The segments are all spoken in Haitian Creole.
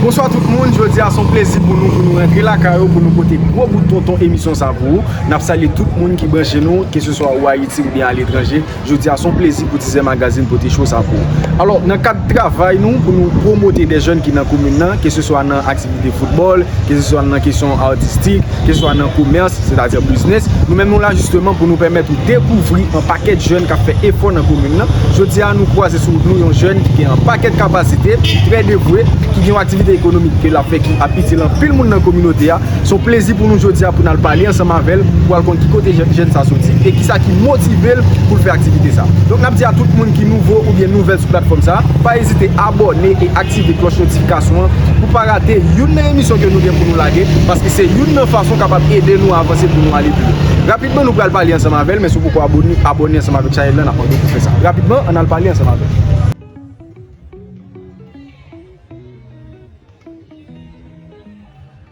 Bonswa tout moun, jodi a son plezi pou nou pou nou rantre lakay ou pou nou pote gwo bout tonton emisyon sa pou ou. Nap salye tout moun ki branche nou, ke se swa ou Ayiti ou byen a letranje. Jodi a son plezi pou Tizè Magazine pote show sa pou ou. Alò, nan kad travay nou pou nou pwomote de jèn ki nan komin nan, ke se swa nan aktivite. de football, ke se swa nan kesyon artistik, ke se swa nan komers, se ta di business, nou menm nou la jisteman pou nou pèmèt ou dekouvri yon pakèt jèn kap fè efò nan komin nan, jodi a nou kwaze sou wout nou yon jèn ki gen yon pakèt kapasite, ki trè devwe, ki gen yon aktivite ekonomik ke lap fè ki ap itil anpil moun nan kominote a, se yon plezi pou nou jodi a pou nal pale ansanm avèl pou al konn ki kote jèn sa soti e kisa ki motivel poul fè aktivite sa. Donk nap di a tout moun ki nouvo oubyen nouvèl sou platfòm sa, pa ezite abòne e. aktive klòch notifikasyon an pou pa rate youn nan emisyon ke nou gen pou nou lage paske se youn nan fason kapab ede nou avanse pou nou ale pi lwen. Rapidman nou pral pale ansanm avèl men si w poko abone, abone ansanm avèk chanèl lan nap mande w pou fè sa. Rapidman ann al pale ansanm avèl.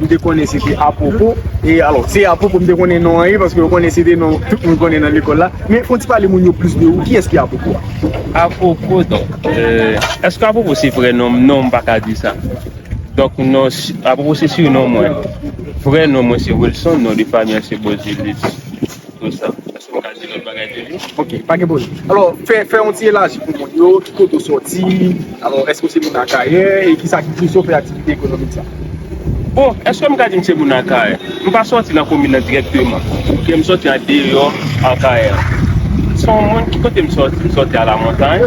M te konnen se te Apwopo. E alò, se Apwopo m te konnen non an ye, paske m konnen se te non tout moun konnen nan lekòl la. Men, fò w ti pale moun yo plis de ou. Kiyès ki Apwopo a? Apwopo, donk, èske Apwopo se vrè non m? Non, m pa ka di sa. Donk, non, Apwopo se sinon mwen. Vrè non mwen se Wilson, non de fanmi an se Beauzilus. Bon sa, èske m ka di lòt bagay de li? Ok, pa gen pwoblèm. Alò, fè, fè yon ti elaji pou moun yo, ki kote w sòti, alò, èske w se moun Akayè, e kisa ki pouse w fè aktivite ekonomik sa? Bon, èske m ka di m se moun Akayè? M pa sòti nan komin nan dirèkteman, oubyen m sòti an deyò Akayè. M se yon moun, ki kote m sòti? M sòti a lamontay.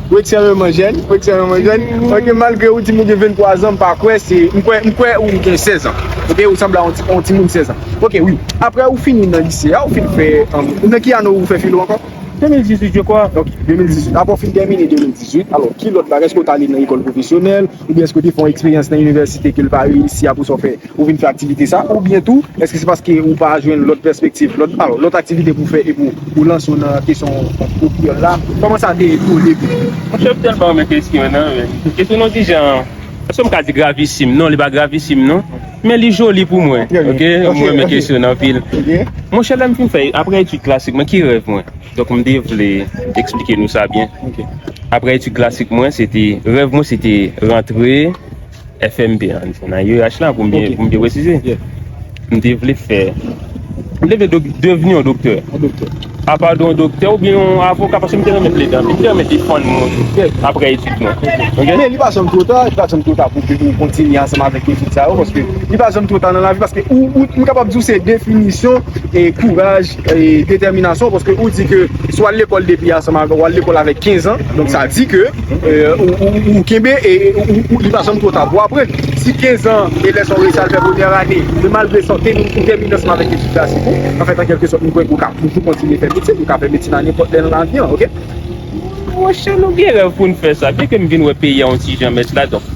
Ou ekstrèmeman jèn, ou ekstrèmeman jèn, ok malgre ou di mwen gen 23 zan, m pa kwè se, m kwè, m kwè ou gen 16 an, ok, ou sanble a yon ti, yon ti moun 16 an, ok wi, aprè ou fini nan lise a, ou fin fè, nan ki ane ou fè filo ankò? 2018 je kwa. Ok, 2018, aprè ou fin tèmine 2018, alò ki lòt bagay, èske ou t ale nan lekòl pwofesyonèl, Oubyen èske w te fè yon eksperyans nan inivèsite ke l pa reyisi apre sa w fè, ou vin fè aktivite sa? Oubyen tou, èske se paske ou pa jwenn lòt pèspektiv, lòt, alò, lòt aktivite pou w fè epi ou lanse w nan kesyon kou kreyòl la? Kòman sa te ye pou w odebi? Mwen te tèlman renmen kesyon an nan, men. Kesyon nou di jan, èske m ka di gravisim? Non, li pa gravisim non. Men li joli pou mwen. Ok. Mwen renmen kesyon an anpil. Monchè lè m fin fè, apre etid klasik, men ki rèv mwen? Donk m te vle eksplike nou sa byen. Aprè etid klasik mwen, se te, rèv mwen se te rantre FMP an, nan UEH la pou m byen presize. M te vle fè, m te vle devni yon doktè. A pa yon doktè oubyen yon avoka paske m te renmen plede anpil, m te renmen defann moun aprè etid mwen. Men li pa janm two ta, li pa janm two ta pou ke nou kontinye ansanm avèk etid sa yo paske li pa janm two ta nan lavi paske ou, m kapab di w se definisyon kouraj. Detèminasyon paske ou di ke si wal lekòl depi ansanm avèk wal lekòl avèk 15 ans donk sa di ke ou kenbe ou li pa janm twò ta pou aprann si 15 ans elèv sa ou resi al fè premyè ane se malgre sante nou ou tèmine ansanm avèk etid klasik ou an fèt an kèlke sòt mwen kwè ke ou ka toujou kontinye fè medsin ou ka fè medsin a nenpòt lè nan lavi an ok. Monchè nou gen rèv poun fè sa byen ke m vin wè peyi a yon ti jan mès la donk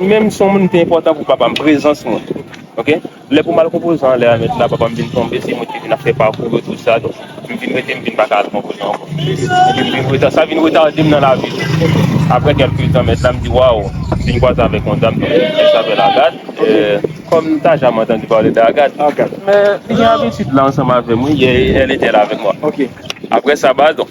Mwen menm son moun te enpòtan pou papa m prezans mwen ok lè pou m al konpozan an lè a mèt la papa m vin tonbe se mwen ki vin ap fè pakou yo tout sa donk m vin rete m vin pa ka al konpozan ankò epi m vin reta sa vin retarde m nan lavi tou aprè kèlke tan mèt la m di waw si n kwaze avèk yon dam ki rele Agad kòm m ta janm antann pale de Agad li gen abitid la ansanm avè m wi èl etè la avèk mwa aprè sa ba donk.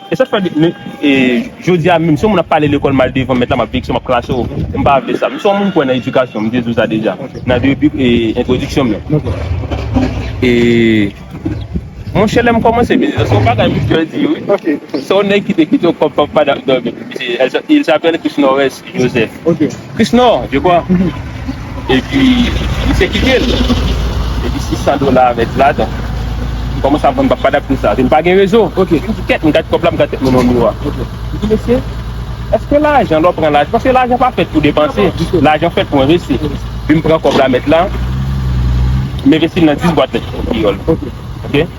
E sa fè depi jodi a menm si yon moun ap pale lekòl mal devan mèt la m ap veye ki sa m ap krache w m pa vle sa. M se yon moun kwè nan edikasyon m te di w sa deja nan debi entwodiksyon m nan. E monchè lè m kòmanse vini la se yon bagay monchè di wi se yon nèg ki te kite w kòm papa dam dòmi il s'appelle Christ Norris. Joseph Chrisnor je kwa epi misye kitel epi 600 dola avèk ladan m kòmanse ap vann pap padap pou sa vin pa gen rezo m di kèt m gad kòb la m gad tèt mwen nan miwa m di mesye èske lajan lè w pran lajan paske lajan pa fèt pou depanse lajan fèt pou envesti epi m pran kòb la mèt la m envesti l nan 10 bwat lèt kreyòl ok.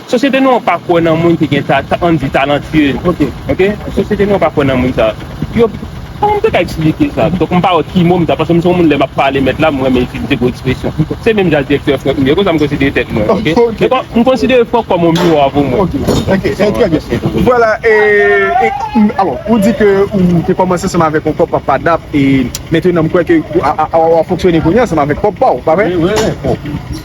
Sosyete nou an pa kwè nan moun ki gen ta, an n di talantye, ok, sosyete nou an pa kwè nan moun sa. Yo, kòman m te ka eksplike sa? Donk m pa wè ki mo m ta, paske m se yon moun lè m ap pale mèt la m renmen itilize gwo ekspresyon. Se menm jan direktè Franck m ye, konsa m konsidere tèt mwen, ok. Donk m konsidere Franck kòm yon miwa pou mwen. Ok, trè byen. Vwala, e, alò, ou di ke ou te kòmanse ansanm avèk yon kòb papa dap e mentenan m kwè ke w ap fonksyone kounye a ansanm avèk kòb pa w, pa vre? Wi, wi, wi.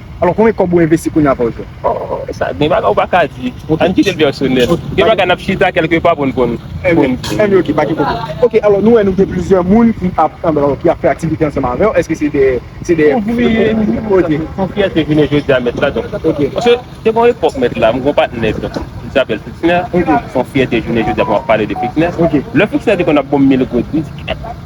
Alò konbyen kòb ou envesti kounya fòw jwenn? Oh sa gen bagay ou pa ka di. Ann kitel pèsonèl. Gen bagay nap chita kèlke pa poun konn di. Anyway ok pa gen pwoblèm. Ok alò nou wè nou gen plizyè moun ki ap fè aktivite ansanm avèw eske se de se de ouvriye? Son fyète jounen jodi a mèt la donk paske te gon epòk mèt la m gon patnè donk li sapèl Fixner son fyète jounen jodi a pou map pale de Fixner lè Fixner te konn ap bonm mil goud m di kèt.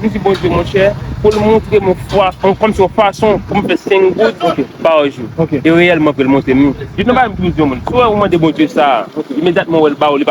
Li di Bondye monchè pou l montre m yon fason pou m fè senk goud pa jou. E reyèlman apre l montre m li. Li te bay m pou m di yon moun, si w wè ou mande Bondye sa, imedyatman ou wè l ba ou, li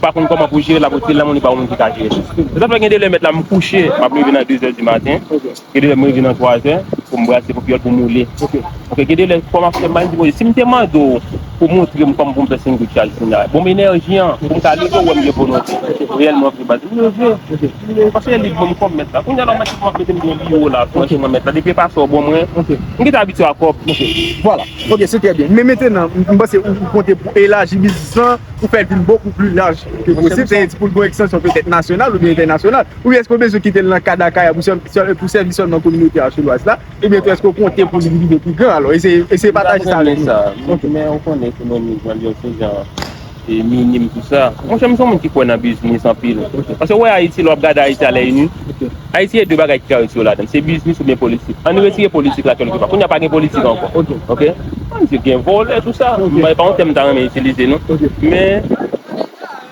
pa konn kòman pou l jere l, l ap rete l nan men w, li ba ou moun ki ka jere l. Se sa k fè gen de lè mèt la m kouche, m ap leve nan dezè dimaten, gen de lè m leve nan twazè pou m brase pou pyòl pou m woule. Ok gen de lè fwa map fè mind mwen sim te mande w pou montre m kòman pou m fè sendwich la Gina bon m enèji an pou m ka leve w wè m gen volonte reyèlman vre baz m leve paske li bon m kòb mèt la kounya la mèt la ap mete m gen yon biwo la franchi mwen mèt la depi epa sa w bon mwen m gentan abitye a kòb vwala ok se trè byen men mentenan m panse ou konte pou elaji biznis lan pou fè l vin bokou pli laj ke posib se pou l gon ekstansyon petèt nasyonal oubyen entènasyonal oubyen èske w bezwen kite l nan kad Akayè pou sèvi sèlman kominote Artholoise la. Ebyen tou eske ou konte pou li rive pi gran alò? Eseye pataje sa avèk nou. Mwen pa konnen sa. Ou konnen ke mwen mizan li yon ti jan minim pou sa. Monchè mwen se yon moun ki kwè nan biznis anpil. Paske ou wè Ayiti lè w ap gade Ayiti a lè ini, Ayiti gen 2 bagay ki ka reyisi yo ladan l. Se biznis oubyen politik. Ann retire politik la kèlkepà. Kounye a pa gen politik ankò. Ok. Ann di gen vòlè tou sa. Mwen pa gen yon tèm m ta renmen itilize non. Men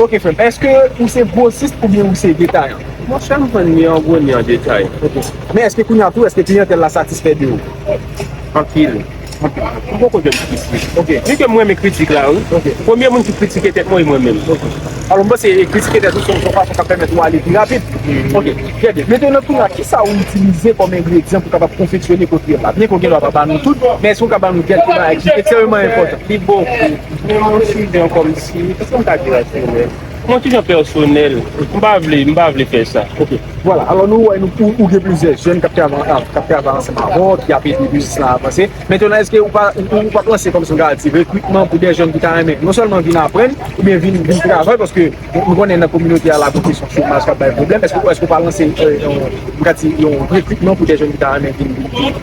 Ok frèm, eske ou se gwosist oubyen ou se detayan? Mwen chè m vann ni an gwo ni an detay. Ok. Men eske kounya tou eske kliyantèl la satisfè de ou? Anpil. Ou poko janm frustre. Ok. Ni ke m renmen kritik la wi. Ok. Premye moun ki kritike tèt mwen e mwen menm. Ok. Alò m panse kritike tèt ou se yon fason k ap pèmèt ou ale pi rapid. Hmm. Ok. Trè byen. Mentènan tou la, kisa ou itilize kòm engredyan pou w kapab konfeksyone koktèl la? Byen ke ou gen dwa pa ba nou tout, men èske ou ka ba nou kèk bagay ki ekstrèmeman enpòtan? Li bokou. Men m wè si jan kòm si, kisa m ka di la sou rès? M wè si jan pèsonèl. M pa vle, m pa vle fè sa. Ok. Vwala, alò nou wè nou ou gen plizyè jèn k ap travay ansanm avè w, ki ap ede biznis lan avanse. Mentènan èske ou pa panse kòmsi nou ta di rekrikman pou dè jèn ki ta renmen non sèlman vin aprann oubyen vin travay paske nou konnen nan kominote a lakou kesyon chomaj k ap bay pwoblèm. Èske ou pa lanse yon rekrikman pou dè jèn ki ta renmen vin?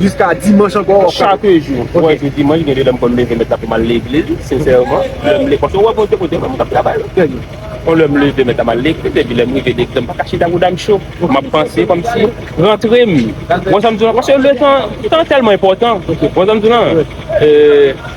Jiska dimanch ankò wap ka. Chak jou mwen wè se dimanch gen de lè m konn leve mèt la pou m al legliz sensèman lè m le paske wè Bondye kote mwen m tap travay kon lè m leve mèt la m al legliz epi lè m rive legliz m pa ka chita bouda m cho m ap panse kòmsi rantre m wè sa m di w la paske le tan tan tèlman enpòtan wè sa m di w la.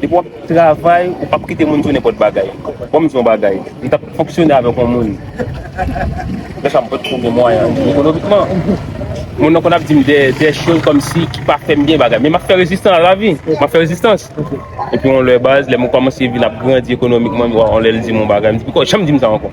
Depi wap travay ou pap kite moun diw nenpot bagay. Bonm diw yon bagay, m tap fonksyone avek yon moun lèsa m pot ko gen mwayen ekonomikman. Moun nan konn ap dim de choz komsi ki pa fem byen bagay men map fè rezistan a lavi, map fè rezistans. Epi yon lè baz lèm komanse vin ap grandi ekonomikman, yon lè l dim yon bagay m di poko janm dim sa anko.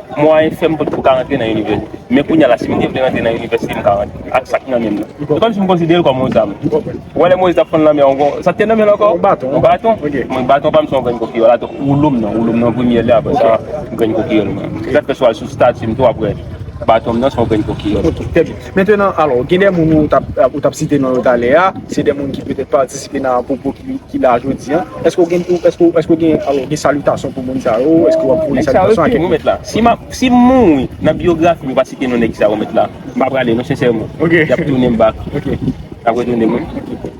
Mwayen fèm pot pou ka rantre nan inivèsite. Men kounya la sim te vle rantre nan inivèsite m ka rantre ak sak nan menm nan. Se kòmsi m konsiderel kòm yon zam. Ou wè lè Moyiz tap fann lanmè an gon sak te nan menl ankò? Yon baton. Yon baton? Ok. Mwen baton pam se yon grenn kokiyòl atò woulom nan, woulom nan an premyè lè aprè sa grenn kokiyòl mwen an. Se sak fè si w al sou statim tou aprè batonm nan se yon grenn kokiyòl. Mentenan, alò, gen de moun ou t ap, ou t ap site non yo talè a, se de moun ki petèt patisipe nan pwopo ki la jodi a. Èske ou gen, èske ou, èske ou gen, alò, gen salitasyon pou moun sa yo? Èske w ap voye salitasyon a kèk moun? Nèg sa yo, yo mèt la. Si m ap, si m mouri, nan biyografi m, yo pa site non nèg sa yo mèt la, m pa prale non sensèman. Y ap tounen m bak. Yo ap retounen m wi.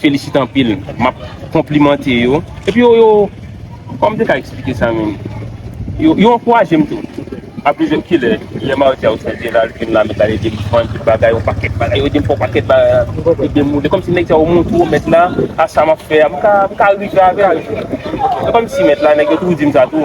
felisite anpil map konplimante yo epi yo yo kòm te ka eksplike sa menm yo yo ankouraje m tou a plizyè kilè lè mardi a yo fè vye lal vin la mèt la yo dim vann tout bagay yo pakèt bagay yo dim fè w pakèt bagay yo dim moule kòm si nèg sa yo montre w mèt la a sa map fè a m ka m ka rive avè l se kòm si mèt la nèg yo toujou dim sa tou.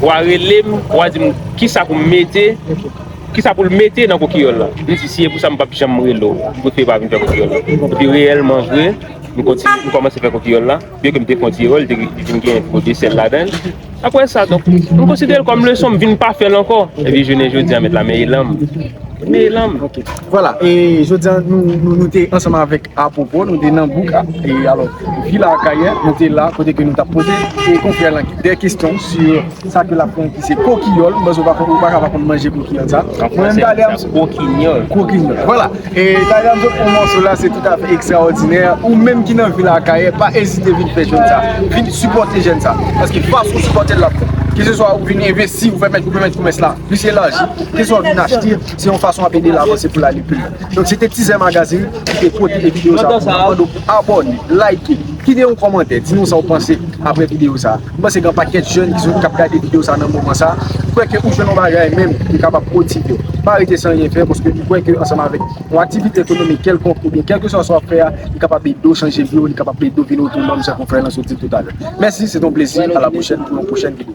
Wa rele m, wa di m kisa pou m mete, kisa pou l mete nan kokiyòl la. M di si e pou sa m pap janm rele w, m prefere pa vin fè kokiyòl la. Epi reyèlman vre, m kontinye, m kòmanse fè kokiyòl la. Byen ke m te fon ti erè, li te vin gen tro de sèl ladan l. Aprè sa donk, m konsidere l kòm leson, m vin pa fè l ankò. Epi jounen jodi a mèt la, men elan m. Men elan m. Vwala, e jodi a nou te ansanm avèk. Apwopo, nou te nan bouk alo vil a Akayè, nou te la kote ke nou tap poze e konfrè lan de kestyon si sa ke lap pran ki se kokiyòl, mwen se pa konn ou pa ka pa konn manje kokiyòl sa. An fransè yo rele sa kokinyòl. Kokinyòl, vwala. E talè avèk ou yon mòso la se tout afè ekstraòdinè, ou menm ki nan vil a Akayè pa ezite vin fè jèn sa, vin sipòte jèn sa. Paske fason ou sipòtel lap bon. Ke se swa ou vin envesti, ou pèmèt komès la plis elaji, ke se swa ou vin achte, se yon fason wap edel avanse poul ale pi lwen. Donk se te Tizè Magazine ki te pote video sa pou nou. Mwen mande w pou abòne, like, kite yon kòmantè, di nou sa w panse aprè video sa. M panse gen yon pakèt jèn ki ap gade video sa nan moman sa. M kwè ke ou jwenn yon bagay menm ki kapab motive w. Pa rete san anyen fè paske m kwè ke ansanm avèk yon aktivite ekonomik kèlkonk oubyen kèlkeswa sa w ap fè a, li kapab ede w chanje vi w, li kapab ede w vin otonòm jan konfrè Lanceau di l toutalè. Mèsi, se te yon plezi. A la pwochèn pou yon pwochèn video.